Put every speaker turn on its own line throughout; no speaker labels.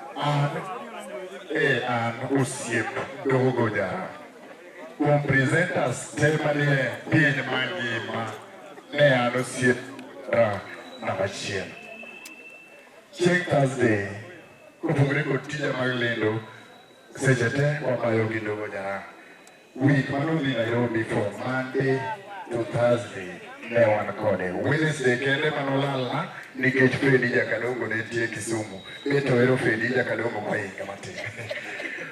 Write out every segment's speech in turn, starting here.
An e an osiep dogo jara. Kuom presenters te manie piny mangima ne an osiep ra namba achiel. Chieng' Thursday kopogore kod tija mag lendo seche te wabayo gi dogo jara. Week ma nodhi Nairobi from Monday to Thursday ne wan kode. Wednesday kende ma nolalna nikech Fredi Jakadongo ne tie Kisumu. Mi to ero Fredi Jakadongo kwa inga matin.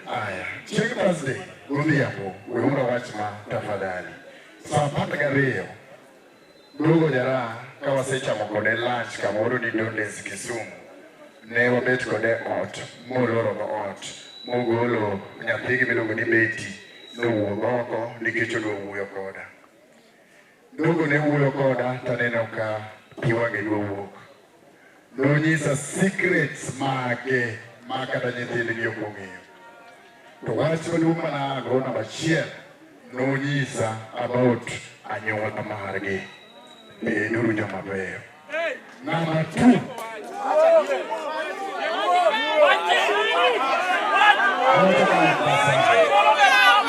Aya, chieng' Thursday godhiambo, weuru wach ma tafadhali. Saa apar gariyo Duogo Jaraha ka wasechamo kode lunch kamoro ni Dondes Kisumu, ne wabet kode ot molorogo ot mogolo nyathigi miluongo ni Betty nowuog oko nikech odwa wuoyo koda. Duogo ne wuoyo koda taneno ka pi wang'e dwa wuok. nonyisa secrets mage ma kata nyithindgi ok ong'eyo. To wach maduong' ma nago namba achiel nonyisa about anyuola margi. Beduru joma beyo. Namba two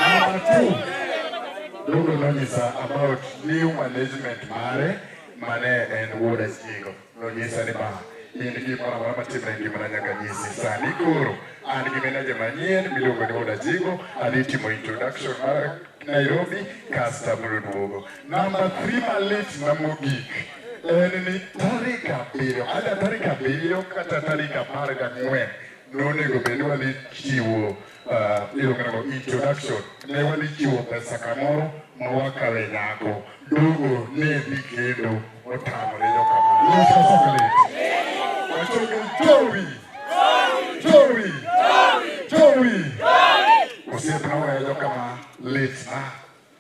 Namba two Dogo nonyisa about new management mare mane en wuod Achigo nonyisa ni ba in gimoro amora matimre e ngimana nyaka nyisi sani koro an gi meneja manyien miluongo ni wuod Achigo adhi timo introduction mar Nairobi kasto abiro duogo namba 3 malit na mogik en ni tarik abiriyo ada tarik abiriyo kata tarik apar gang'wen nonego bed wadhi chiwo Iluongo introduction ne wadhi chiwo pesa kamoro ma wakale nyako dogo ne dhi kendo otamore yo kamano. Wachogi jowi jowi jowi osiepna weyo kama litna